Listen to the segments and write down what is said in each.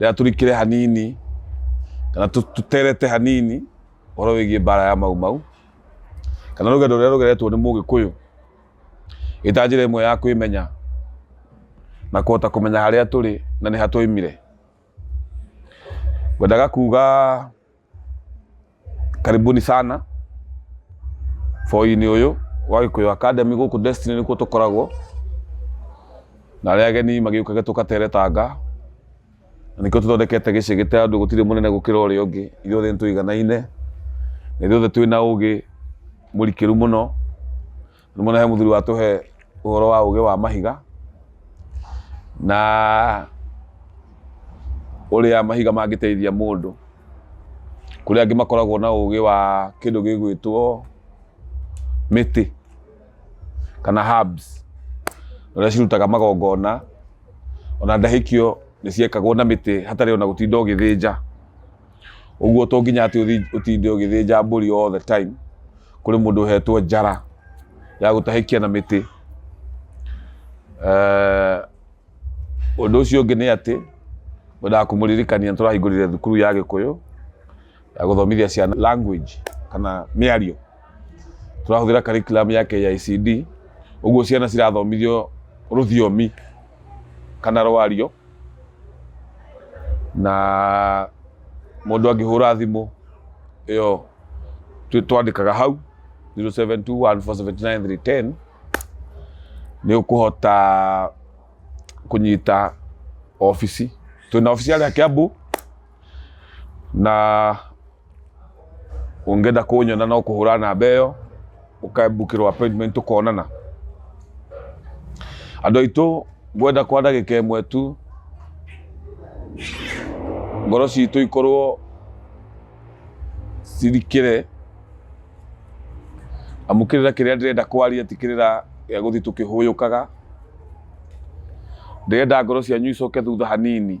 rĩrĩa tũrikire hanini kana tũterete hanini ũhoro wĩgiĩ mbara ya mau mau kana rũgendo rũrĩa rũgeretwo nĩ mũgĩkũyũ ĩta njĩra ĩmwe ya kwĩmenya na kũhota kũmenya harĩa tũrĩ na nĩ ha twoimire ngwendaga kuga karibuni sana foinĩ ũyũ wa gĩkũyũ academy gũkũ destiny nĩkuo tũkoragwo na arĩa ageni magĩũkage tũkatere tanga na nĩkĩo tũthondekete gĩciĩ gĩte andũ gũtirĩ mũnene gũkĩra ũrĩa ũngĩ ithuothe nĩ tũiganaine na ithuothe twĩ na ũgĩ mũrikĩru mũno Nĩmona he mũthuri watũhe ũhoro wa ũgĩ wa mahiga na ũrĩa mahiga mangĩteithia mũndũ. Kũrĩ angĩ makoragwo na ũgĩ wa kĩndũ gĩgwĩtwo mĩtĩ kana herbs ũrĩa cirutaga magongona, ona ndahĩkio nĩ ciekagwo na mĩtĩ hatarĩ ona gũtinda ũgĩthĩnja. ũguo to nginya atĩ ũthi- ũtinde ũgĩthĩnja mbũri all the time kũrĩ mũndũ ũhetwo njara ya gũtahĩkia na mĩtĩ Eh, ũndũ ũcio ũngĩ nĩ atĩ wendaga kũmũririkania nĩ tũrahingũrire thukuru ya gĩkũyũ ya gũthomithia ciana language kana mĩario tũrahũthĩra curriculum ya KICD, ũguo ciana cirathomithio rũthiomi kana rwario, na mũndũ angĩhũra thimũ ĩyo twandĩkaga hau 0721479310 nĩ ũkũhota kũnyita obici. Twĩna obici harĩa Kiambu na... ũngĩenda kũnyona no kũhũra namba ĩyo ũkabukĩrwo appointment tũkonana andũ aitũ ngwenda kwa ndagĩka ĩmwe tu ngoro citũ ikorwo cirikĩre amu kĩrĩra kĩrĩa ndĩrenda kwaria ti kĩrĩra gĩa gũthiĩ tũkĩhũyũkaga ndĩrenda ngoro cianyu icoke thutha hanini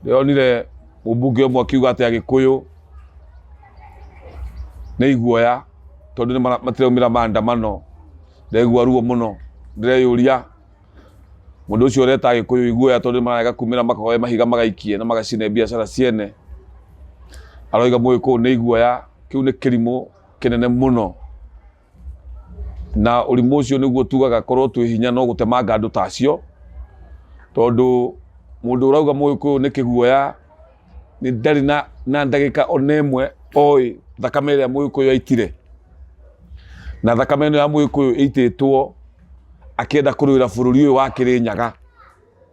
ndĩronire mũmbunge ũmwe akiuga atĩ agĩkũyũ nĩ iguoya tondũ matiraumĩra maandamano ndegua ruo mũno ndĩreyũria mũndũ ũcio ũreta agĩkũyũ iguoya tondũ mararega kumĩra makoe mahiga magaikie na magacine biacara ciene aroiga mũgĩkũyũ nĩ iguoya kĩu nĩ kĩrimũ kĩnene mũno na ũrimũ ũcio nĩguo tugaga korwo twĩ hinya no gũtemanga andũ tacio tondũ mũndũ ũrauga mũgĩkũyũ nĩ kĩguoya nĩ ndarĩ na, na ndagĩka ona ĩmwe oĩ thakame ĩrĩa mũgĩkũyũ aitire na thakame ĩno ya mũgĩkũyũ ĩitĩtwo akĩenda kũrũĩra bũrũri ũyũ wa kĩrĩnyaga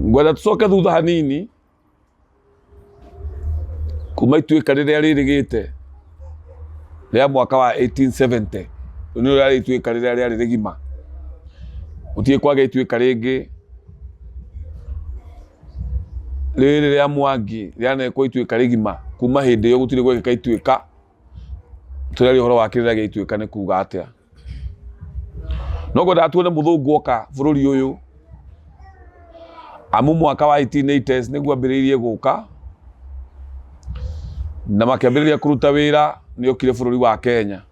ngwenda tũcoke thutha hanini kuma ituĩka rĩrĩa rĩrĩgĩte rĩa mwaka wa 1870 rĩu nĩrĩo rĩarĩ ituĩka rĩrĩa rĩarĩ rĩgima gũtirĩ kwagĩa ituĩka rĩngĩ rĩrĩ rĩa mwangi rĩanekwo ituĩka rĩgima kuma hĩndĩ ĩyo gũtirĩ gwekĩka ituĩka tũreri horo wa kĩrĩra gĩa ituĩka nĩ kuga atĩa no ngwendaga tuone mũthũngũ oka bũrũri ũyũ amu mwaka wa 1880 nĩguo ambĩrĩirie gũka na makĩambĩrĩria kũruta wĩra nĩ okire bũrũri wa kenya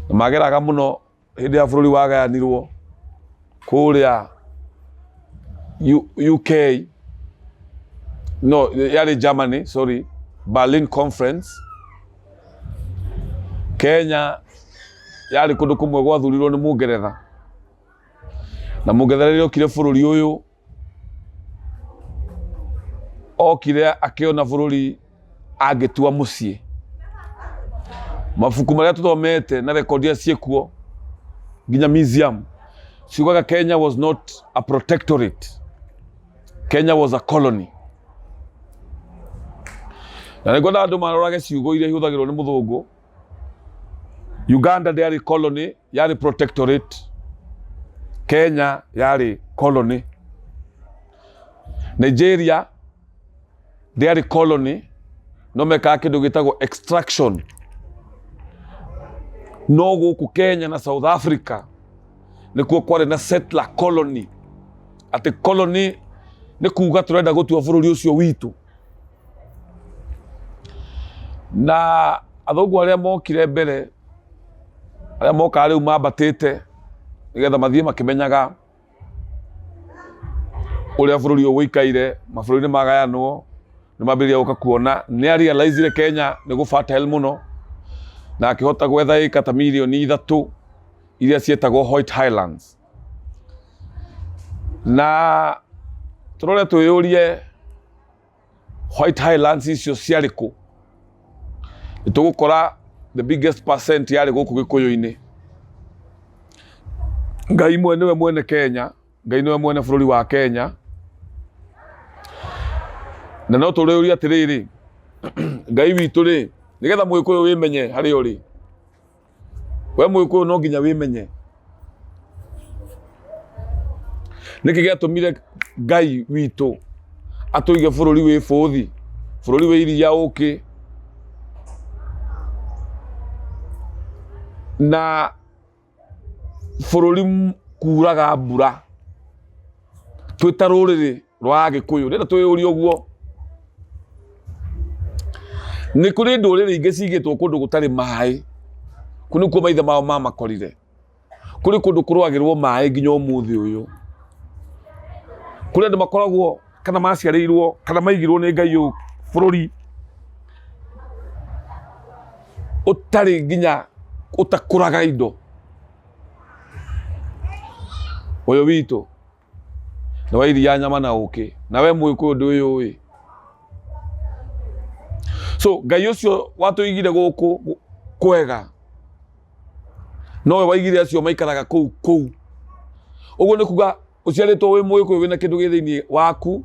na mageraga mũno hĩndĩ ya bũrũri wagayanirwo kũrĩa U- uk no yarĩ germany sorry berlin conference kenya yarĩ kũndũ kũmwe gwathurirwo nĩ mũngeretha na mũngeretha rĩrĩa okire bũrũri ũyũ okire akĩona bũrũri angĩtua mũciĩ mabuku marĩa tũthomete na rekondi iria ciĩkuo nginya museum ciugaga kenya was not a protectorate kenya was a colony na nĩguo andũ marorage ciugo iria ihũthagĩrwo nĩ mũthũngũ uganda ndĩarĩ colony yarĩ protectorate kenya yarĩ colony nigeria ndĩarĩ colony no mekaga kĩndũ gĩtagwo extraction no gũkũ kenya na south africa nĩkuo kwarĩ na settler colony atĩ colony nĩ kuga tũrenda gũtua bũrũri ũcio witũ na athũngũ arĩa mokire mbere arĩa mokaga rĩu mambatĩte nĩgetha mathiĩ makĩmenyaga ũrĩa bũrũri ũyũ ũikaire mabũrũri nĩ magayanwo nĩ mambĩrĩria gũka kuona nĩ arealizire kenya nĩ gũfatel mũno na akĩhota gwetha ĩka ta mirioni ithatũ iria cietagwo white highlands na tũrore twĩyũrie white highlands icio ciarĩ kũ nĩ tũgũkora the biggest percent yarĩ gũkũ gĩkũyũ-inĩ ngai mwe nĩwe mwene kenya ngai nĩwe mwene bũrũri wa kenya na no tũrĩũrie atĩrĩrĩ ngai witũ rĩ nĩgetha mũgĩkũyũ wĩmenye harĩa ũrĩ we mũgĩkũyũ no nginya wĩmenye nĩkĩ gĩatũmire ngai witũ atũige bũrũri wĩ bũthi bũrũri wĩ iria ũkĩ na bũrũri m- kuuraga mbura twĩ ta rũrĩrĩ rwa Agĩkũyũ rĩrĩa twĩyũria ũguo nĩ kũrĩ ndũrĩrĩ ingĩ cigĩtwo kũndũ gũtarĩ maĩ kũu nĩkuo maithe mao mamakorire kũrĩ kũndũ kũrwagĩrwo maĩ nginya ũmũthĩ ũyũ kũrĩ andũ makoragwo kana maciarĩirwo kana maigirwo nĩ Ngai ũyũ bũrũri ũtarĩ nginya ũtakũraga indo ũyũ witũ nĩ wa iria nyama na ũkĩ na we mũgĩkũyũ ndũĩũĩ so ngai ũcio watũigire gũkũ gũ- kwega nowe waigire acio maikaraga kũu kũu ũguo nĩ kuga ũciarĩtwo wĩ mũgĩkũyũ wĩna kĩndũ gĩ thĩinĩ waku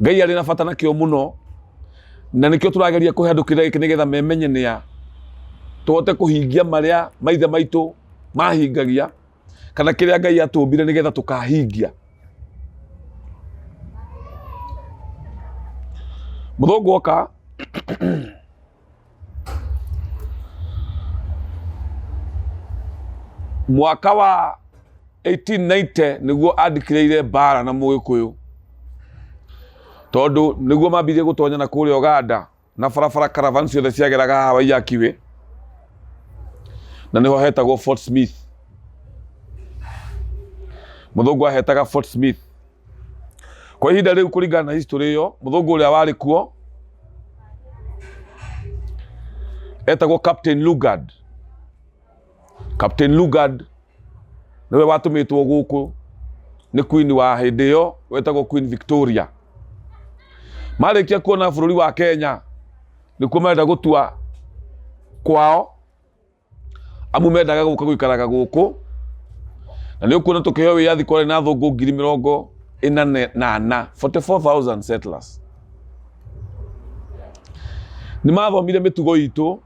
ngai arĩ na bata nakĩo mũno na nĩkĩo tũrageria kũhe andũ kĩrĩa gĩkĩ nĩgetha memenye nĩa tũhote kũhingia marĩa maithe maitũ mahingagia kana kĩrĩa ngai atũmbire nĩ getha tũkahingia mũthũngũ oka mwaka wa 1890 nĩguo andikĩrĩire mbara na mũgĩkũyũ tondũ nĩguo mambirie gũtonyana kũrĩa Uganda na barabara caravan ciothe ciageraga haha waiakiwĩ na nĩho hetagwo fort smith mũthũngũ ahetaga fort smith kwa ihinda rĩu kũringana na history ĩyo mũthũngũ ũrĩa warĩ kuo etagwo captain lugard Captain Lugard nĩwe watũmĩtwo gũkũ nĩ queen wa hĩndĩ ĩyo wetagwo Queen Victoria. Marĩkia kuona bũrũri wa Kenya nĩkuo marenda gũtua kwao amu mendaga gũka gũikaraga gũkũ na nĩ ũkuona tũkĩheo wĩyathi kwarĩ na thũngũ ngiri mĩrongo ĩna na ana 44,000 settlers. Nĩ mathomire mĩtugo itũ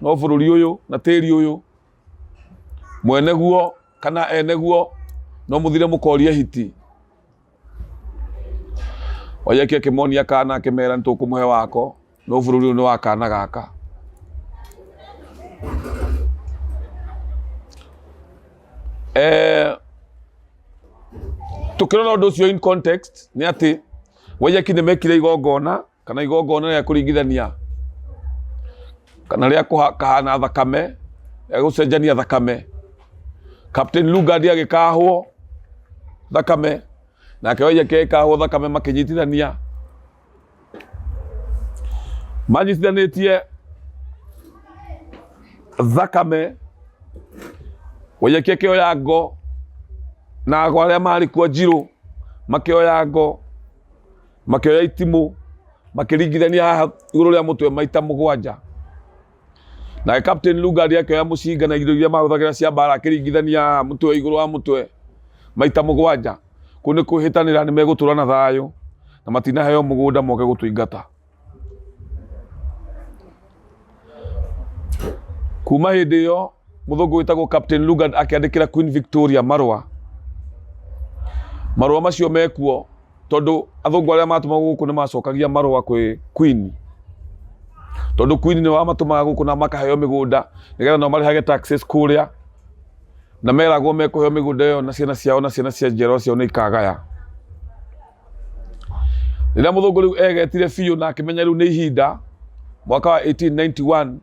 no bũrũri ũyũ na tĩri ũyũ mwene guo kana ene guo no mũthire mũkorie hiti oyeki akĩmonia kana akĩmera nĩ tũkũmũhe wako no bũrũri ũyũ nĩ wa kana gaka eh, tukirona undu ucio in context ni ati wayaki ni mekire igongona kana igongona rĩa kũringithania kana rĩa kũhana thakame rĩa gũcenjania thakame captain lugard agĩkahwo thakame nake waija kekahwo thakame makĩnyitithania manyitithanĩtie thakame waija kekĩoya ngo na arĩa marĩ kuo njirũ makĩoya ngo makĩoya itimũ makĩringithania haha igũrũ rĩa mũtwe maita mũgwanja nake captain lugard akĩoya mũcinga na indo iria mahũthagĩra cia mbara akĩringithania haha mũtwe igũrũ wa mũtwe maita mũgwanja kũu nĩ kwĩhĩtanĩra nĩ megũtũra na thayũ na matinaheo mũgũnda moke gũtũingata kuma hĩndĩ ĩyo mũthũngũ wĩtagwo captain lugard akĩandĩkĩra queen victoria marũa marũa macio mekuo tondũ athũngũ arĩa matũmagwo gũkũ nĩ macokagia marũa kwĩ queen tondũ queen nĩ wamatũmaga gũkũ na makaheo mĩgũnda nĩgetha nao marĩhage taxes kũrĩa na meragwo mekũheo mĩgũnda ĩyo na ciana ciao na ciana cia njiarwa ciao nĩ ikagaya rĩrĩa mũthũngũ rĩu egetire biũ na akĩmenya rĩu nĩ ihinda mwaka wa 1891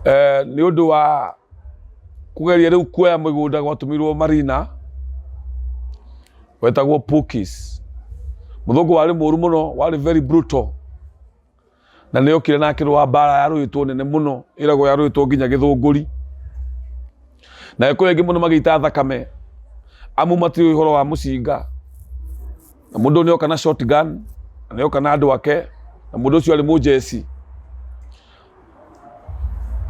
eh, nĩ ũndũ wa kũgeria rĩu kuoya mĩgũnda gwatũmirwo marina wetagwo Pukis mũthũngũ warĩ mũru mũno warĩ very brutal Na nĩ okire na akĩrũa mbaara ya rũĩtwo nene mũno, ĩragwo ya rũĩtwo nginya gĩthũngũri. Na kũrĩ aingĩ mũno magĩita thakame, amu matiũĩ ũhoro wa mũcinga. Na mũndũ nĩ oka na short gun, na nĩ oka na andũ ake, na mũndũ ũcio arĩ mũnjeci.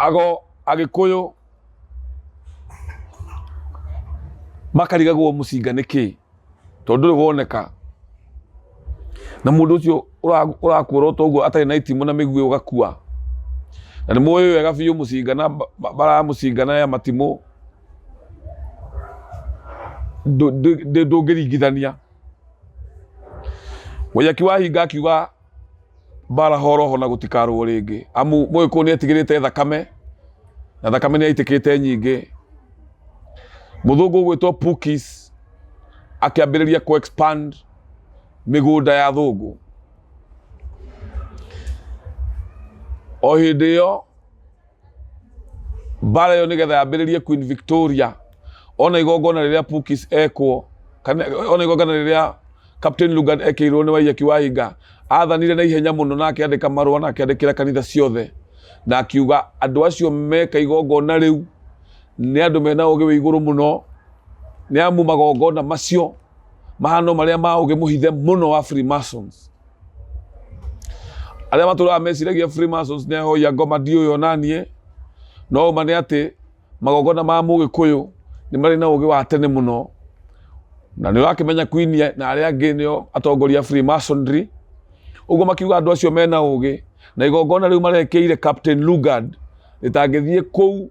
Ago, Agĩkũyũ. makarigagwo mũcinga nĩkĩ tondũ ndũrĩ woneka na mũndũ ũcio ũra- ũrakuũra ta ũguo atarĩ na itimũ na mĩguĩ ũgakua na nĩ mũĩ wega biũ mũcinga na mba- mba- mbara ya mũcinga na ya matimũ ndũ- ndũ- ndũ- ndũngĩringithania mũyaki wa hinga akiuga mbara horoho na gũtikarũo rĩngĩ amu mũgĩkũyũ nĩ etigĩrĩte thakame na thakame nĩ yaitĩkĩte nyingĩ mũthũngũ ũgwĩtwo Pukis akĩambĩrĩria kũ expand mĩgũnda ya thũngũ o hĩndĩ ĩyo mbara ĩyo nĩgetha yambĩrĩrie queen victoria ona igongona rĩrĩa pukis ekwo kana ona igongona rĩrĩa captain lugan ekĩirwo nĩ waiyaki wa hinga athanire na ihenya mũno na akĩandĩka marũa na akĩandĩkĩra kanitha ciothe na akiuga andũ acio meka igongona rĩu nĩ andũ mena ũgĩ wĩ igũrũ mũno nĩ amu magongona macio mahano marĩa ma ũgĩ mũhithe mũno wa freemasons arĩa matũraga meciragia Freemasons nĩ ahoya ngoma ndiũĩ ona niĩ no ũma nĩ atĩ magongona ma mũgĩkũyũ nĩ marĩ na ũgĩ wa tene mũno na nĩ ũrakĩmenya Queen na arĩa angĩ nĩo atongoria a Freemasonry ũguo makiuga andũ acio mena ũgĩ na igongona rĩu marekĩire Captain Lugard rĩtangĩthiĩ kũu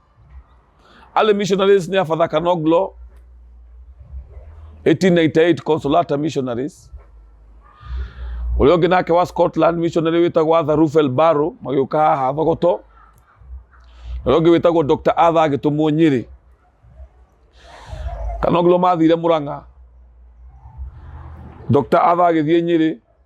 Alle missionaries near Father Kanoglo, 1898 Consolata missionaries. Ulio ginake wa Scotland missionary witagwo Arthur Ruffel Barrow magĩũka haha Thogoto. Na ũngĩ wĩtagwo Dr. Arthur agĩtũmwo Nyĩrĩ. Kanoglo mathire Murang'a. Dr. Arthur agĩthiĩ Nyĩrĩ.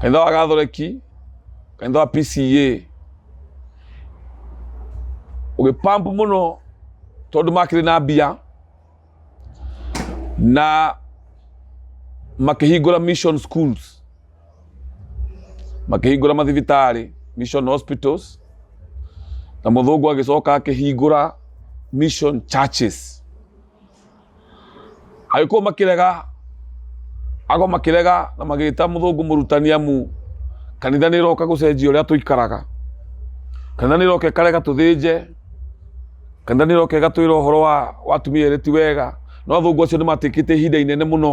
kanitha wa gathoreki kanitha wa pca ũgĩpambu mũno tondũ makĩrĩ na mbia na makĩhingũra mission schools makĩhingũra mathibitarĩ mission hospitals na mũthũngũ agĩcoka akĩhingũra mission churches agĩkorwo makĩrega agwo makĩrega na magĩta mũthũngũ mũrutani amu kanitha nĩ ĩroka gũcenjia ũrĩa tũikaraga kanitha nĩ ĩroka ĩkarega tũthĩnje kanitha nĩ ĩroka ĩgatwĩra ũhoro wa wa atumia erĩ ti wega no athũngũ acio nĩ matĩkĩte ihinda inene mũno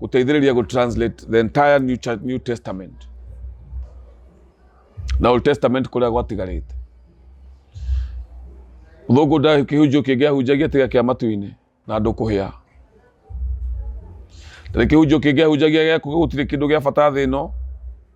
guteithĩrĩria gu translate the entire new, Cha- new testament na old testament kuria gwatigarite thungu nda kĩhunjio kĩngĩ ahunjagia tiga kĩa matu-inĩ na andũ kũhĩa tarĩ kĩhunjio kĩngĩ ahunjagia gĩaku gũtirĩ kĩndũ gĩa bata thĩ ĩno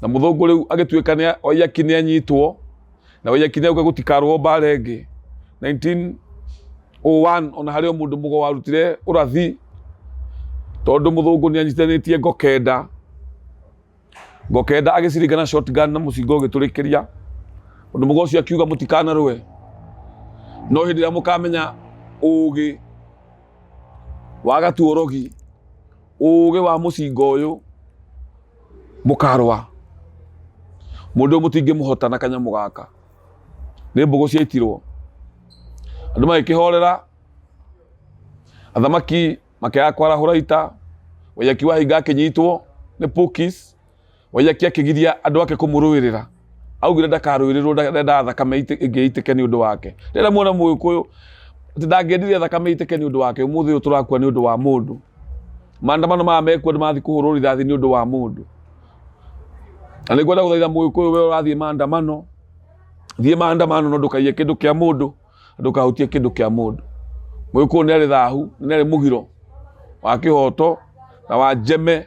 na mũthũngũ rĩu agĩtuĩka nĩ oiyaki nĩ anyitwo na oiyaki nĩ auga gũtikarwo mbara ĩngĩ 1901 ona harĩ o mũndũ mũgo warutire ũrathi tondũ mũthũngũ nĩ anyitanĩtie ngokenda ngokenda agĩciringa na shotgun na mũcinga ũgĩtũrĩkĩria ũndũ mũgo ũcio akiuga mũtikanarũe no hĩndĩ ĩrĩa mũkamenya ũũgĩ wa gatuorogi ũũgĩ wa mũcinga ũyũ mũkarũa mũndũ ũyũ mũtingĩmũhota na kanyamũ gaka nĩ mbũgũ ciaitirwo andũ magĩkĩhorera athamaki makĩaga kwarahũra ita wayaki wa hinga akĩnyitwo nĩ pukis Waiyaki akĩgiria andũ ake kũmũrũĩrĩra augire ndakarũĩrĩrwo ndendaga thakame ite- ĩngĩ itĩke nĩ ũndũ wake rĩrĩa muona mũgĩkũyũ atĩ ndangĩendire thakame itĩke nĩ ũndũ wake ũmũthĩ ũyũ tũrakua nĩ ũndũ wa mũndũ maandamano maya mekuo nĩ mathiĩ kũhũrwo rithathi nĩ ũndũ wa mũndũ na nĩ ngwenda gũthaitha mũgĩkũyũ we ũrathiĩ maandamano thiĩ maandamano no ndũkaiye kĩndũ kĩa mũndũ na ndũkahutie kĩndũ kĩa mũndũ mũgĩkũyũ nĩ arĩ thahu nĩ arĩ mũgiro wa kĩhoto na wa njeme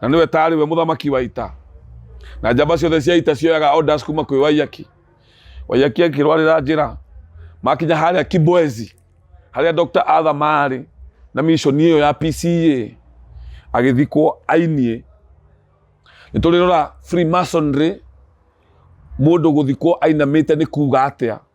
na nĩwe taarĩ we mũthamaki wa ita na njamba ciothe cia ita cioyaga orders kuma kwĩ waiyaki waiyaki akĩrwarĩra njĩra makinya harĩa kiboezi harĩa dr atha maarĩ na mishoni ĩyo ya pca agĩthikwo ainie nĩ tũrĩrora freemasonry mũndũ gũthikwo ainamĩte nĩ kuga atĩa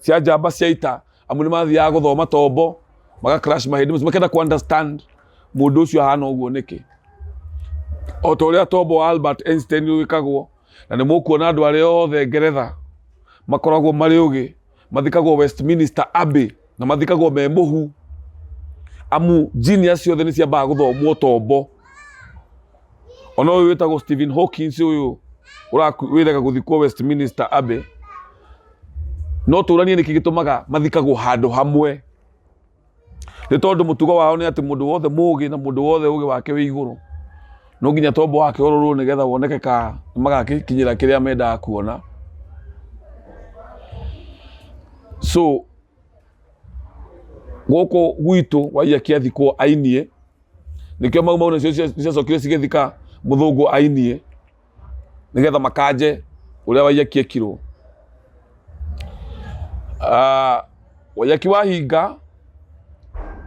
cia njamba cia ita amu nĩ mathiaga gũthoma tombo maga crash mahĩndĩ macio makenda ku understand mũndũ ũcio ahana ũguo nĩkĩ o ta ũrĩa tombo wa Albert Einstein wĩkagwo na nĩ mũkuona andũ arĩa othe Ngeretha makoragwo marĩ ũgĩ mathikagwo Westminster Abbey na mathikagwo me mũhu amu genius ciothe nĩ ciambaga gũthomwo tombo ona ũyũ wĩtagwo Stephen Hawkins ũyũ ũraku- wĩrega gũthikwo Westminster Abbey no tũranie nĩkĩ gĩtũmaga mathikagwo handũ hamwe nĩ tondũ mũtugo wao nĩ atĩ mũndũ wothe mũgĩ na mũndũ wothe ũgĩ wake wĩ igũrũ no nginya tombo wake ũrorwo nĩgetha woneke ka magakinyĩra kĩrĩa mendaga kuona so gũkũ gwitũ waiya kĩathikwo ainie nĩkĩo mau mau nacio ciacokire cigĩthika mũthũngũ ainie nĩgetha makanje ũrĩa waiyaki ekirwo Ah, waiyaki wa hinga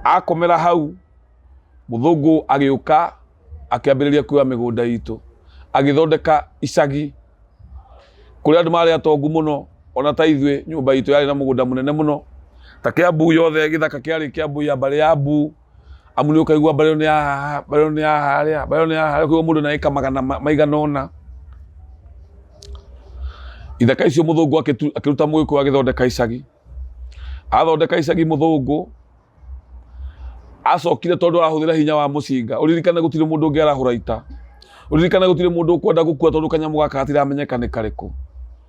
akomera hau mũthũngũ agĩũka akĩambĩrĩria kuoya mĩgũnda itũ agĩthondeka icagi kũrĩa andũ marĩ atongu mũno ona ta ithuĩ nyũmba itũ yarĩ na mũgũnda mũnene mũno ta kĩambu yothe gĩthaka kĩarĩ kĩambu ya mbarĩ ya mbu Amu nĩ ũkaigua mbarĩ ĩno nĩ ya haha, mbarĩ ĩno nĩ ya harĩa, mbarĩ ĩno nĩ ya harĩa, koguo mũndũ nĩ areka magana maigana ũna. Ithaka icio mũthũngũ akĩruta mũgĩkũyũ agĩthondeka icagi. Athondeka icagi mũthũngũ, acokire tondũ arahũthĩra hinya wa mũcinga, ũririkane gũtirĩ mũndũ ũngĩ arahũra ita, ũririkane gũtirĩ mũndũ ũkwenda gũkua tondũ kanyamũ gaka gatiramenyeka nĩ karĩkũ.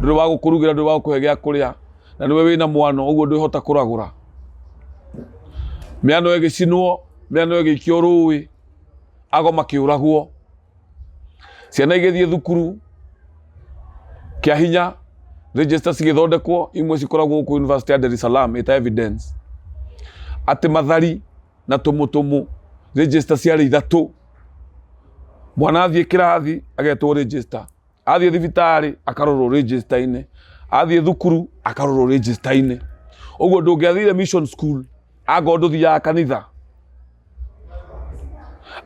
ndũrĩ wa gũkũrugĩra ndũrĩ wa gũkũhe gĩa kũrĩa na nĩwe wĩna mwano ũguo ndwĩhota kũragũra mĩano ĩgĩcinwo mĩano ĩgĩikio rũĩ ago makĩũragwo ciana igĩthiĩ thukuru kĩa hinya register cigĩthondekwo imwe cikoragwo gũkũ university ya Dar es Salaam ĩta evidence atĩ mathari na tũmũtũmũ register ciarĩ ithatũ mwana athiĩ kĩrathi agetwo register athiĩ thibitarĩ akarorwo register-inĩ athiĩ thukuru akarorwo register-inĩ ũguo ndũngĩathire mission school angorwo ndũthiaga kanitha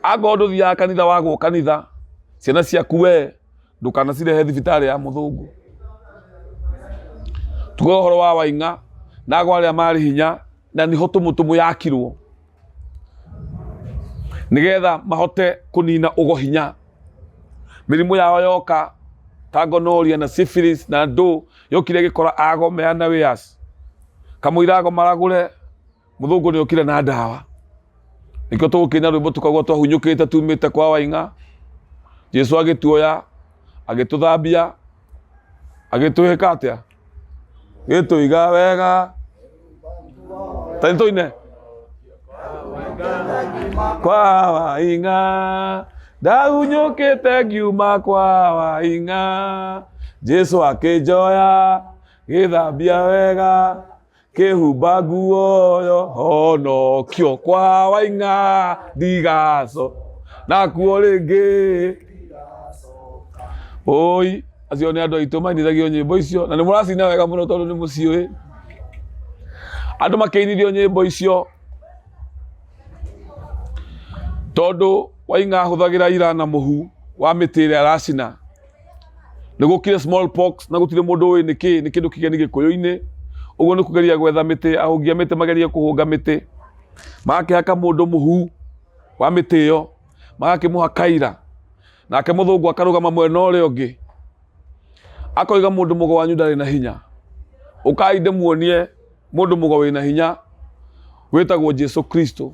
angorwo ndũthiaga kanitha wagwo kanitha ciana ciaku we ndũkanacirehe thibitarĩ ya mũthũngũ tuge ũhoro wa waing'a na agwa arĩa marĩ hinya na niho tumutumu yakirwo nigetha mahote kunina ugo hinya mirimu yao yoka ta gonoria na syphilis na ndu yokire gikora ago meana wias kamuira ago maragure muthungu ni okire na ndawa nikio tugukinya rwimbo tukagwo twahunyukite tumite kwa wainga jesu agituoya agituthambia agituhika atia gĩtũiga wega tanitoine kwa waing'a ndahunyũkĩte ngiuma kwa waing'a jesu akĩnjoya gĩthambia wega Kĩhumba nguo yo honokio kwa waing'a ndigaco nakuo rĩngĩ oi acio nĩ andũ aitũ mainithagio nyĩmbo icio na nĩ mũracina wega mũno tondũ nĩ mũciũĩ andũ makĩinithio nyĩmbo icio tondũ waing'a ahũthagĩra ira na mũhu wa mĩtĩ ĩrĩa aracina nĩgũkire smallpox na gũtirĩ mũndũ ũĩ nĩkĩ nĩ kĩndũ kĩgeni gĩkũyũ-inĩ ũguo nĩ kũgeria gwetha mĩtĩ ahũngi a mĩtĩ magerie kũhũnga mĩtĩ magakĩhaka mũndũ mũhu wa mĩtĩ ĩyo magakĩmũha kaira nake mũthũngũ akarũgama mwena ũrĩa ũngĩ akoiga mũndũ mũgo wanyu ndarĩ na hinya ũkai ndĩmuonie mũndũ mũgo wĩna hinya wĩtagwo jesu kristo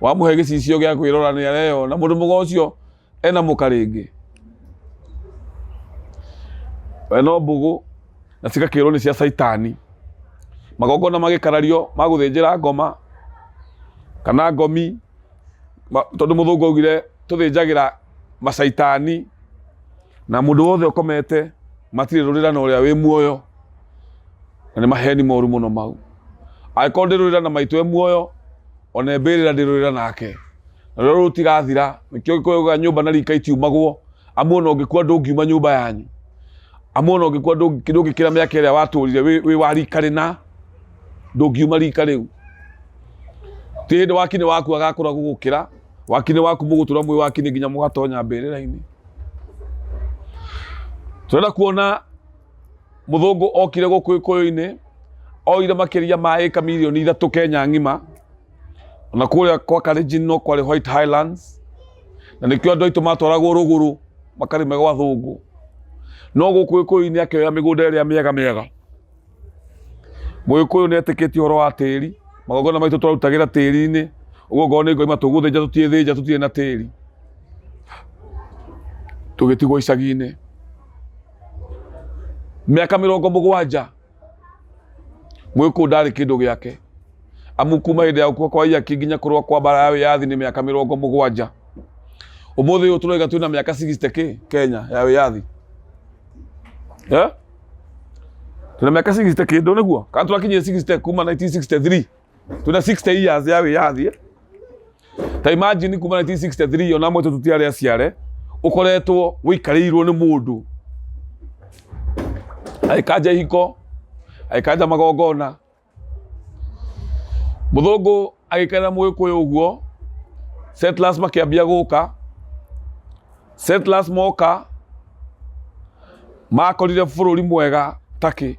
wamuhe gicicio gia kwirora ni areyona mundu muga ucio ena mukaringi we no mbugu na cigakirwo ni cia caitani magongona magikarario ma guthinjira ngoma kana ngomi ma- tondu muthungu augire tuthinjagira macaitani na mundu wothe ukomete matirä rå rä ra na å rä a wä muoyo na nĩ maheni moru mũno mau angĩkorwo ndĩrũrĩra na maitũ e muoyo ona mbĩrĩra ndĩrũrĩra nake na rũrĩa rũrũ tigathira nĩkĩo gĩkũyũga nyũmba na rika itiumagwo amu ona ũngĩkua ndũngiuma nyũmba yanyu amu ona ũngĩkua ndũngĩ- ndũngĩkĩra mĩaka ĩrĩa watũrire wĩ wĩ wa rika rĩna ndũngiuma rika rĩu ti hĩndĩ wakinĩ waku agakũra gũgũkĩra wakinĩ waku mũgũtũra mwĩ wakinĩ nginya mũgatonya mbĩrĩra-inĩ tũrenda kuona Mũthũngũ okire gũkũ Gĩkũyũ-inĩ, oire makĩria ma ĩka milioni ithatũ Kenya ng'ima, na kũrĩa kwa Kalenjin no kwarĩ White Highlands, na nĩkĩo andũ aitũ matwaragwo rũgũrũ makarĩme gwa thũngũ. No gũkũ Gĩkũyũ-inĩ akĩoya mĩgũnda ĩrĩa mĩega mĩega. Mũgĩkũyũ nĩ etĩkĩtie ũhoro wa tĩri, magongona maitũ twarutagĩra tĩri-inĩ, ũguo ngoro nĩ ngoima tũgũthĩnja tũtiĩthĩnja tũtirĩ na tĩri, tũgĩtigwo icagi-inĩ. mĩaka mĩrongo mũgwanja gwĩ kũu ndarĩ kĩndũ gĩake amu kuma hĩndĩ ya gũkua kwa iaki nginya kũrũa kwa mbara ya wĩyathi nĩ mĩaka mĩrongo mũgwanja ũmũthĩ ũyũ tũroiga twĩna mĩaka 60 kĩ kenya ya wĩyathi Eh? twĩna mĩaka 60 kĩndũ nĩguo kana tũrakinyire 60 kuma 1963 tuna 60 years ya wiyathi ta imagine kuma 1963 ona mwe tutiare aciare ukoretwo wikarirwo ni mundu aikanja ihiko aikanja magongona muthungu agikena muikuyu uguo settlers makiambia guka settlers moka makorire bururi mwega taki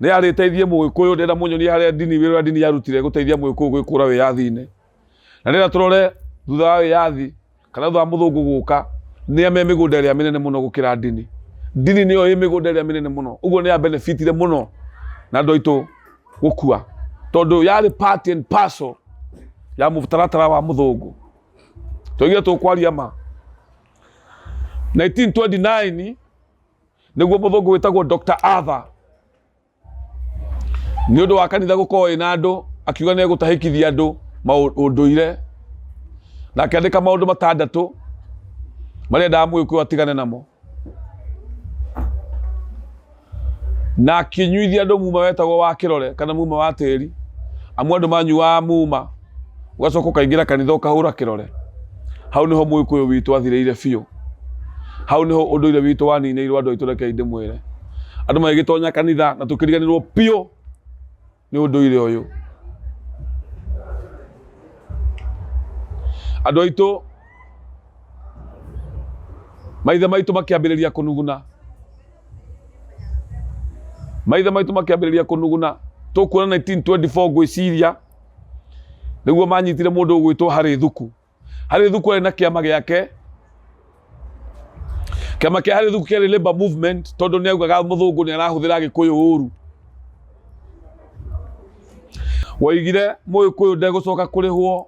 Nĩ arĩteithie Mũgĩkũyũ, ndĩrenda mũnyonie harĩa ndini, wĩra ũrĩa ndini yarutire gũteithia Mũgĩkũyũ gwĩkũra wĩyathi-inĩ. Na ndĩrenda tũrore thutha wa wĩyathi, kana thutha wa mũthũngũ gũka, nĩa me mĩgũnda ĩrĩa mĩnene mũno gũkĩra ndini. Ndini nĩyo ĩ mĩgũnda ĩrĩa mĩnene mũno, ũguo nĩ ya benefitire mũno na andũ aitũ gũkua, tondũ yarĩ part and parcel ya mũtaratara wa mũthũngũ. Tũigire tũkwaria ma. 1929 nĩguo mũthũngũ wĩtagwo Dr. Arthur nĩ ũndũ wa kanitha gũkorwo ĩna andũ akiuga nĩ egũtahĩkithia andũ ũndũire na akĩandĩka maũndũ matandatũ marĩa endaga mũgĩkũyũ atigane namo na akinyuithia andũ muma wetagwo wa kĩrore kana muma wa tĩri amu andũ manyuaga muma ũgacoka ũkaingĩra kanitha ũkahũra kĩrore hau nĩho mũgĩkũyũ witũ athirĩire biũ hau nĩho ũndũire witũ waninĩirwo andũ aitũ rekei ndĩmwĩre andũ magĩgĩtonya kanitha na tũkĩriganĩrwo biũ nĩ ũndũire ũyũ andũ aitũ maithe maitũ makĩambĩrĩria kũnuguna maithe maitũ makĩambĩrĩria kũnuguna tũkuona 1924 ngwĩciria nĩguo manyitire mũndũ ũgwĩtwo harĩ thuku harĩ thuku arĩ na kĩama gĩake kĩama kĩa harĩ thuku kĩarĩ labor movement tondũ nĩ augaga mũthũngũ nĩ arahũthĩra gĩkũyũ ũru waigire mũgĩkũyũ ndegũcoka kũrĩhwo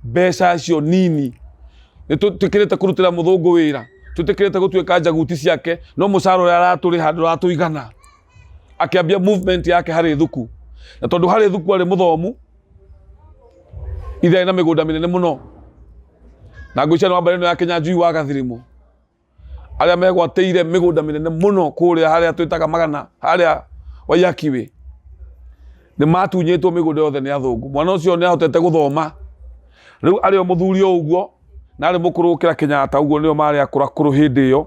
mbeca icio nini nĩ twĩkĩrĩte kũrutĩra mũthũngũ wĩra twĩtĩkĩrĩte gũtuĩka njaguti ciake no mũcara ũrĩa aratũrĩha ndũratũigana akĩambia movement yake harĩ thuku na tondũ harĩ thuku arĩ mũthomu ithe arĩ na mĩgũnda mĩnene mũno na ngũicia nĩ wa mbarĩ ĩno ya kenya njui wa gathirimũ arĩa megwatĩire mĩgũnda mĩnene mũno kũrĩa harĩa twĩtaga magana harĩa waiakiwĩ nĩ matunyĩtwo mĩgũnda yothe nĩ athũngũ mwana ũcio nĩ ahotete gũthoma rĩu arĩ o mũthuri o ũguo na arĩ mũkũrũ gũkĩra kenyatta ũguo nĩo marĩ akũrakũrũ hĩndĩ ĩyo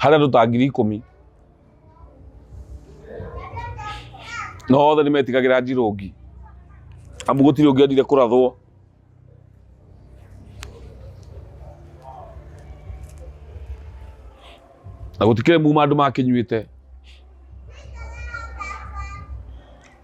harĩa andũ ta ngiri ikũmi na othe nĩ metigagĩra njirũngi amu gũtirĩ ũngĩ endire kũrathwo na gũtikĩrĩ muma andũ makĩnyuĩte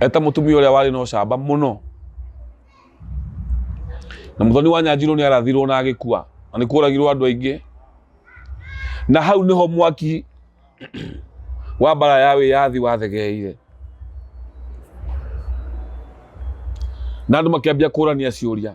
eta mutumia uria wari no camba muno na muthoni wa nyanjiro ni arathirwo na agikua na ni kuragirwo andu aingi na hau niho mwaki wa mbara ya wiyathi wathegeire na andu makiambia kurania ciuria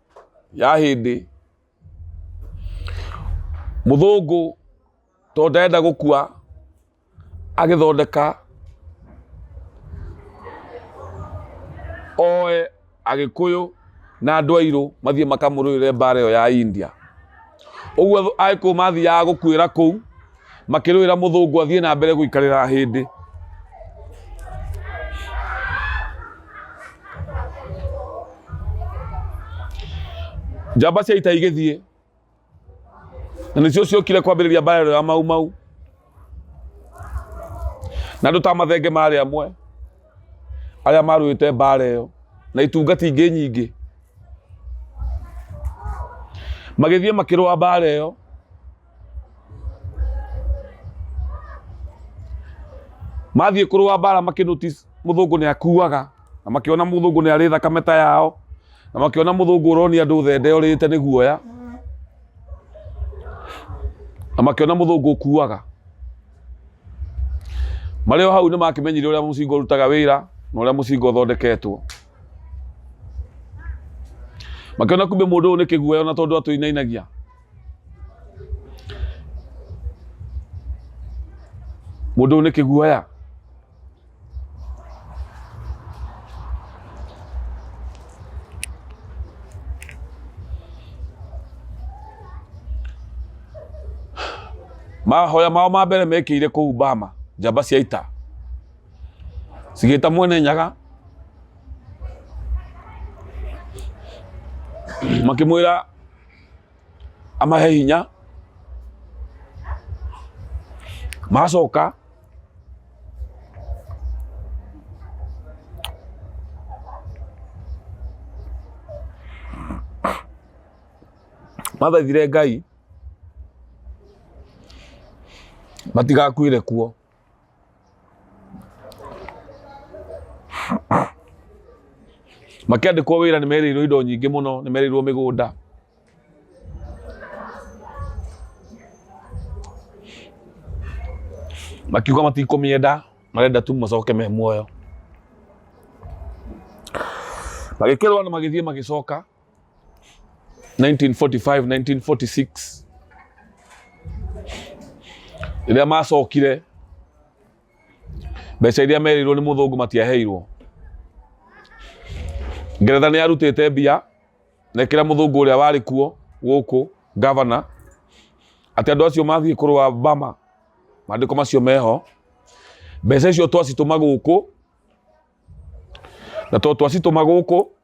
ya hĩndĩ mũthũngũ tondũ ndarenda gũkua agĩthondeka oe agĩkũyũ na andũ airũ mathiĩ makamũrũĩre mbara ĩyo ya India ũguo agĩkũyũ mathiaga gũkuĩra kũu makĩrũĩra mũthũngũ athiĩ na mbere gũikarĩra hĩndĩ njamba cia ita igĩthiĩ na nĩcio ciokire kwambĩrĩria mbara ĩrĩa ya mau mau na andũ ta mathenge marĩ amwe arĩa marũĩte mbara ĩyo na itungati ingĩ nyingĩ magĩthiĩ makĩrũa mbara ĩyo mathiĩ kũrũa mbara makĩnotice mũthũngũ nĩ akuaga na makĩona mũthũngũ nĩ arĩ thakame ta yao na makĩona mũthũngũ ũronia andũ thende ũrĩte nĩ guoya na makĩona mũthũngũ ũkuaga marĩ o hau nĩ makĩmenyire ũrĩa mũcinga ũrutaga wĩra na ũrĩa mũcinga ũthondeketwo makĩona kumbe mũndũ ũyũ nĩ kĩguoya ona tondũ atũinainagia mũndũ nĩ kĩguoya mahoya mao ma mbere mekĩire kũu Bama njamba cia ita cigĩta mwene nyaga makĩmwĩra amahe hinya macoka mathaithire ngai matigakuire kuo makĩandĩkwo wĩra nĩ merĩirwo indo nyingĩ mũno nĩ merĩirwo mĩgũnda makiuga matikũmĩenda marenda tu macoke me muoyo magĩkĩrwo na magĩthiĩ magĩcoka 1945 1946 rĩrĩa macokire mbeca iria merirwo nĩ mũthũngũ matiaheirwo ngeretha nĩ yarutĩte mbia na ĩkĩra mũthũngũ ũrĩa warĩ kuo gũkũ gavana atĩ andũ acio mathiĩ kũrũa bama maandĩko macio meho mbeca icio twacitũma gũkũ na to twacitũma gũkũ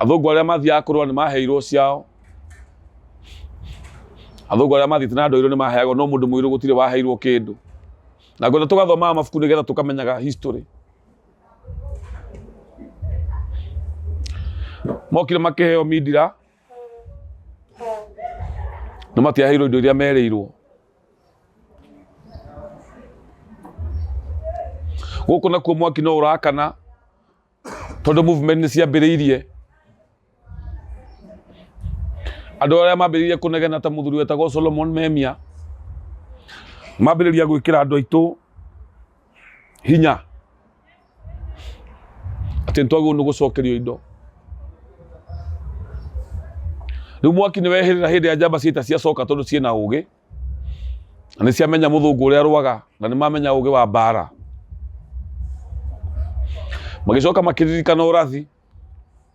athũngũ arĩa mathiaga kũrũa nĩ maheirwo ciao athũngũ arĩa mathiĩte na ndoirwo nĩ maheagwo no mũndũ mũirũ gũtirĩ waheirwo kĩndũ na ngwenda tũgathomaga mabuku nĩgetha tũkamenyaga history mokire makĩheo mindira na matiaheirwo indo iria merĩirwo gũkũ nakuo mwaki no ũrakana tondũ movement nĩ ciambĩrĩirie andũ arĩa mambĩrĩirie kũnegena ta mũthuri wetagwo Solomon Memia mambĩrĩria gwĩkĩra andũ aitũ hinya atĩ nĩtwagĩrĩirwo nĩ gũcokerio indo rĩu mwaki nĩ wehĩrĩra hĩndĩ ya njamba ciaita ciacoka tondũ ciĩ na ũgĩ na nĩ ciamenya mũthũngũ ũrĩa arwaga na nĩ mamenya ũgĩ wa mbaara magĩcoka makĩririkana ũrathi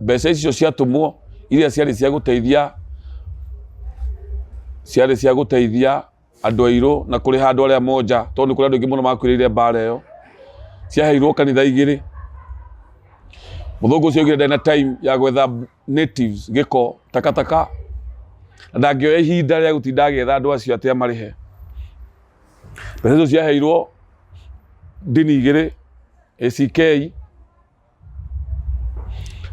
Mbeca icio ciatũmwo iria ciarĩ cia gũteithia ciarĩ cia gũteithia andũ airũ na kũrĩha andũ arĩa monja tondũ nĩ kũrĩ andũ aingĩ mũno makuĩrĩire mbara ĩyo. Ciaheirwo kanitha igĩrĩ. Mũthũngũ ũcio augire ndarĩ na time ya gwetha natives gĩko, takataka, na ndangĩoya ihinda rĩa gũtinda agĩetha andũ acio atĩ amarĩhe. Mbeca icio ciaheirwo ndini igĩrĩ, ACK.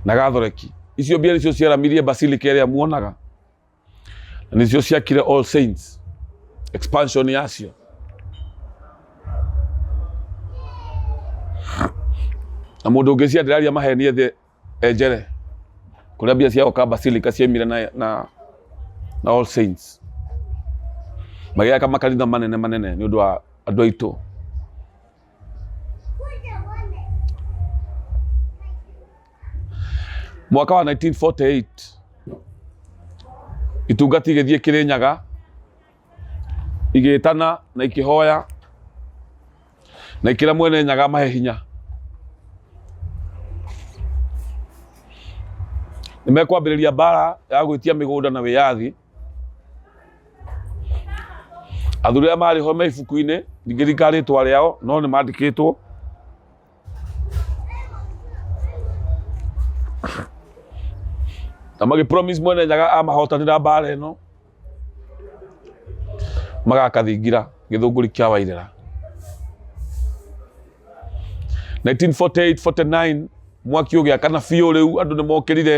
na gathoreki icio mbia nĩcio ciaramirie basilica ĩrĩa muonaga na nĩcio ciakire all saints expansion yacio na mũndũ ũngĩ ciandĩraria maheni ethĩ enjere kũrĩa mbia ciao ka basilica ciaimire na, na, na all saints magĩaka makanitha manene manene nĩ ũndũ wa andũ aitũ mwaka wa 1948 itungati igĩthiĩ kĩrĩnyaga igĩtana na ikĩhoya na ikĩra mwene nyaga mahe hinya nĩmekwambĩrĩria mbara ya gwĩtia mĩgũnda na wĩyathi athuri arĩa marĩ ho me ibuku-inĩ ndingĩringa rĩtwa rĩao no nĩ mandĩkĩtwo na magĩ promise mwene nyaga amahotanĩra mbara ĩno magakathingira gĩthũngũri kĩa wairĩra 1948 49 mwaki ũgĩakana biũ rĩu andũ nĩ mokĩrire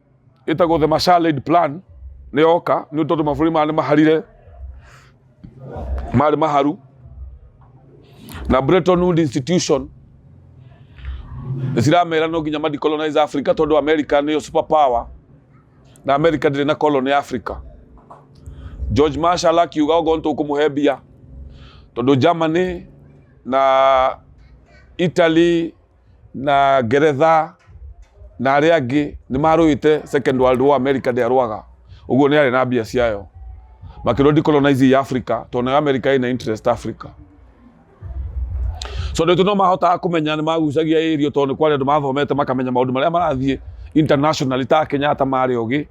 ĩtagwo the Marshall Aid Plan nĩ yoka nĩ tondũ mabũrũri maya nĩ maharire marĩ maharu na Bretton Woods Institution ciramera no nginya madecolonize Africa tondũ America nĩyo super power na America ndĩrĩ na colony Africa George Marshall akiuga ogo nĩtũkũmũhe mbia tondũ Germany na Italy na ngeretha na arĩa angĩ nĩ marũĩte second world war america ndĩarũaga ũguo nĩ arĩ na mbia ciayo makĩrwo decolonize ya africa tondũ nayo america ĩna interest africa so nĩ no mahotaga kũmenya nĩ magucagia ĩrio tondũ nĩ kwarĩ andũ mathomete makamenya maũndũ marĩa marathiĩ international ta kenyatta marĩ ũgĩ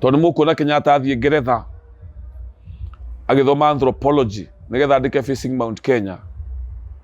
tondũ nĩ mũkuona kenyatta athiĩ ngeretha agĩthoma anthropology nĩgetha andĩke facing mount kenya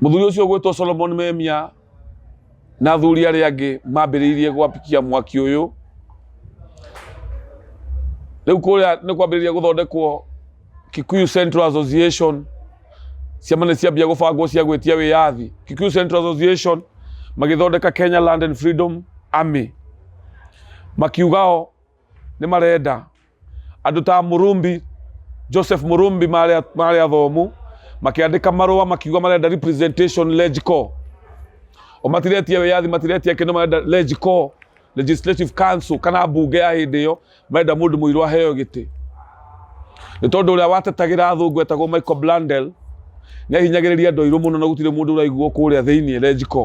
Mũthuri ũcio ũgwĩtwo Solomon Memia na athuri arĩa angĩ mambĩrĩirie gwapikia mwaki ũyũ. Rĩu kũrĩa nĩ kwambĩrĩria gũthondekwo Kikuyu Central Association, ciama nĩ ciambia gũbangwo cia gwĩtia wĩyathi. Kikuyu Central Association magĩthondeka Kenya Land and Freedom Army, makiuga o nĩ marenda Andũ ta Mũrũmbi, Joseph Mũrũmbi marĩ a- marĩ athomu makĩandĩka marũa makiuga marenda representation LegCo. O matiretia wĩyathi matiretia kĩndũ marenda LegCo, Legislative Council kana mbunge ya hĩndĩ ĩyo marenda mũndũ mũirũ aheo gĩtĩ. Nĩ tondũ ũrĩa watetagĩra athũngũ etagwo Michael Blundell nĩ ahinyagĩrĩria andũ airũ mũno na gũtirĩ mũndũ ũraiguo kũrĩa thĩinĩ LegCo.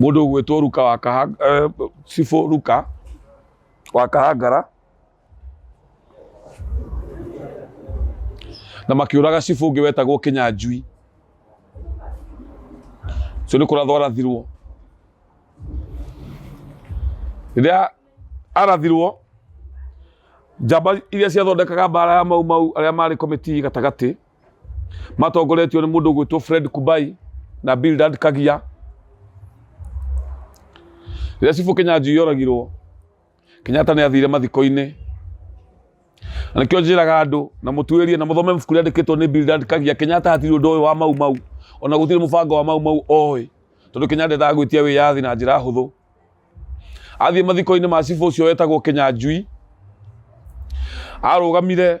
mũndũ ũgwĩtwo ruka wa Kaha- eh, cibũ ruka wa kahangara na makiũraga cibũ ũngĩ wetagwo kĩnyanjui ũcio nĩ kũrathwo arathirwo rĩrĩa arathirwo njamba iria ciathondekaga mbara ya mau mau arĩa marĩ komiti gatagatĩ matongoretio nĩ mũndũ ũgwĩtwo Fred Kubai na Bildad Kagia rĩrĩa cibũ Kenyanjui yoragirwo Kenyatta nĩ athire mathiko-inĩ na nĩkĩo njĩraga andũ na mũtuĩrie na mũthome mabuku rĩandĩkĩtwo nĩ Bildad Kagia Kenyatta hatirĩ ũndũ ũyũ wa mau mau ona gũtirĩ mũbango wa mau mau oĩ tondũ Kenyatta endaga gwĩtia wĩyathi na njĩra hũthũ athiĩ mathiko-inĩ ma cibũ ũcio wetagwo Kenyanjui arũgamire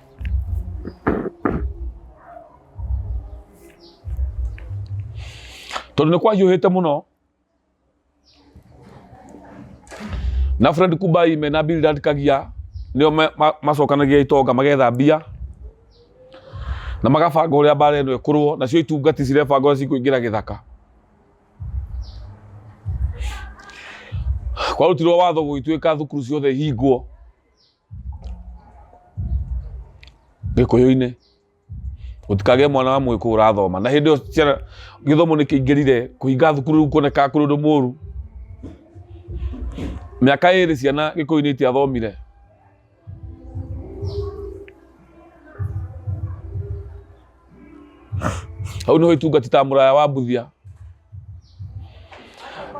tondũ nĩ kwanyũhĩte mũno na Fred Kubai me na Bildad Kagia nĩo ma- ma- macokanagia itonga magetha mbia na magabanga ũrĩa mbara ĩno ĩkũrwo nacio itungati cirebanga ũrĩa cikũingĩra gĩthaka kwarutirwo watho gũgĩtuĩka thukuru ciothe ihingwo gĩkũyũ-inĩ gũtikagĩe mwana wa mũgĩkũyũ ũrathoma na hĩndĩ ĩyo ciana gĩthomo nĩ kĩingĩrire kũhinga thukuru rĩu kuonekaga kũrĩ ũndũ mũru mĩaka ĩrĩ ciana gĩkũyũ-inĩ itiathomire hau nĩho itungati ta mũraya wa mbuthia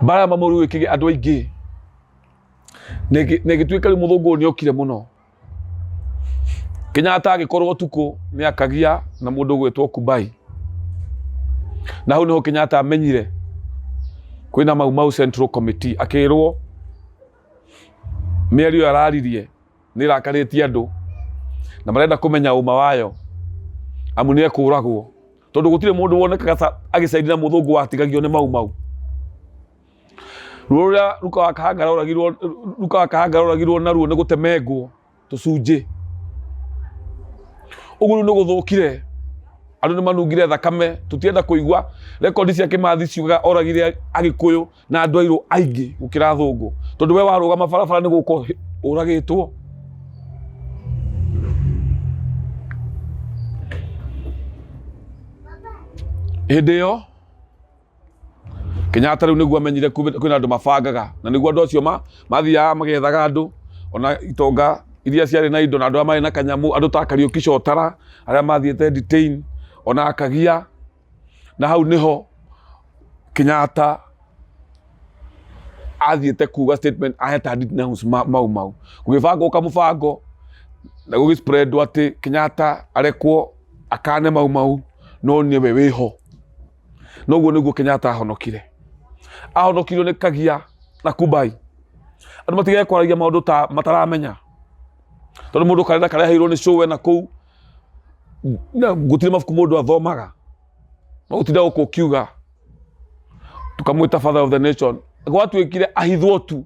mbara mamũru ĩkĩgĩa andũ aingĩ na ĩgĩ- na ĩgĩtuĩka rĩu mũthũngũ ũyũ nĩ okire mũno kenyatta agĩkorwo tukũ nĩ akagia na mũndũ gwĩtwo kubai na hau nĩho kenyatta amenyire kwĩna mau mau central committee akĩrwo mĩario ĩyo araririe nĩ ĩrakarĩtie andũ na marenda kũmenya ũma wayo amu nĩ ekũragwo tondũ gũtirĩ mũndũ wonekaga ta agĩcairi na mũthũngũ watigagio nĩ mau mau ruo rũrĩa ruka wa kahangara oragirwo ruka wa kahangara oragirwo naruo nĩ gũtemengwo tũcunjĩ ũguo nĩ gũthũkire andũ nĩ manungire thakame tũtienda kũigua rekondi cia kĩmathi ciugaga oragire agĩkũyũ na andũ airũ aingĩ gũkĩra thũngũ tondũ we warũgama barabara nĩ gũkũ ũragĩtwo hĩndĩ ĩyo Kenyatta rĩu nĩguo amenyire kwĩna andũ mabangaga na nĩguo andũ acio mathiaga magethaga andũ ona itonga iria ciarĩ na indo na andũ arĩa marĩ na kanyamũ andũ ta Kariuki Cotara arĩa mathiĩte detain ona akagia na hau nĩho Kenyatta athiĩte kuga statement aheta details mau mau gũgĩbangwo kamũbango na gũgĩ spread atĩ Kenyatta arekwo akane mau mau no nĩwe wĩho. na ũguo nĩguo kenyatta ahonokire ahonokirio nĩ kagia na kubai andũ matigage kwaragia maũndũ ta mataramenya tondũ mũndũ karenda kareheirwo nĩ show na kũu na gũtirĩ mabuku mũndũ athomaga no gũtinda gũkũ ũkiuga tukamwĩta father of the nation gwatuĩkire ahithwo tu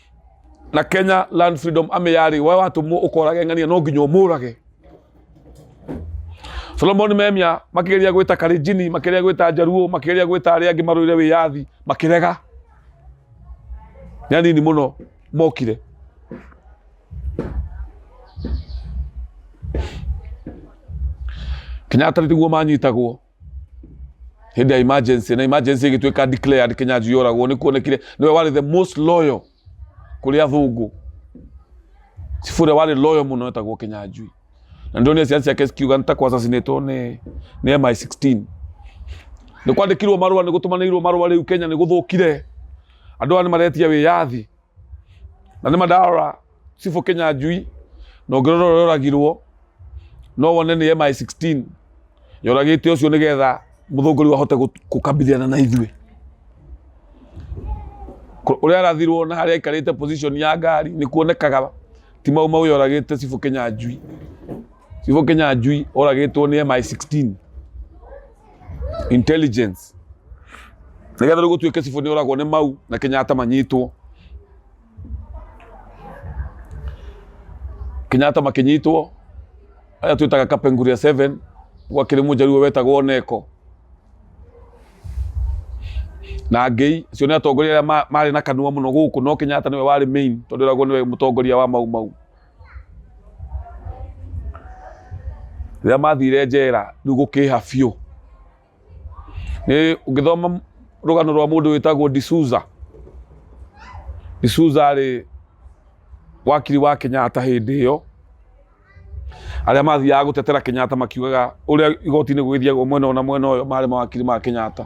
na kenya land freedom ame yari we watu mu ukorage ng'ania no nginya umurage solomon memia makigeria gwita karijini makigeria gwita njaruo makigeria gwita aria angi marwire wiyathi makirega ni anini muno mokire kenyatta niguo manyitagwo hĩndĩ ya emergency na emergency ĩgĩtuĩka declared kinyanjui oragwo nĩ kuonekire nĩwe warĩ the most loyal kũrĩ athũngũ cibu ũrĩa warĩ loyal mũno etagwo kinyanjui na ndonire ciana ciake cikiuga nĩ ta kwa assassinatwo nĩ nĩ MI16 nĩ kwandĩkirwo marũa nĩ gũtũmanĩirwo marũa rĩu Kenya nĩ gũthũkire andũ aya nĩ maretia wĩyathi na nĩ mandarora cibũ kĩnyanjui na ũngĩrora ũrĩa oragirwo no wone nĩ MI16 yoragĩte ũcio nĩgetha mũthũngũri wahote gũkambithana na ithuĩ ũrĩa arathirwo na harĩa aikarĩte position ya ngari nĩ kuonekaga ti mau mau yoragĩte cibũ kĩnyanjui cibũ kĩnyanjui oragĩtwo nĩ MI16 intelligence nigetha rĩu gũtuĩke cibũ nĩ oragwo nĩ mau na kenyatta manyitwo kenyatta makĩnyitwo aya twĩtaga kapenguria 7 gwakĩrĩ mũjaruo wetagwo oneko na ngei acio nĩ atongoria arĩa ma- marĩ na kanua mũno gũkũ no kenyatta nĩwe warĩ main tondũ eragwo nĩwe mũtongoria wa mau mau rĩrĩa mathire njera rĩu gũkĩha biũ nĩ ũngĩthoma rũgano rwa mũndũ wĩtagwo D'Souza D'Souza rĩ wakiri wa Kenyatta hĩndĩ ĩyo arĩa mathiaga gũtetera Kenyatta makiugaga ũrĩa igoti-inĩ gũgĩthiagwo mwena ũyũ na mwena ũyũ marĩ mawakiri ma Kenyatta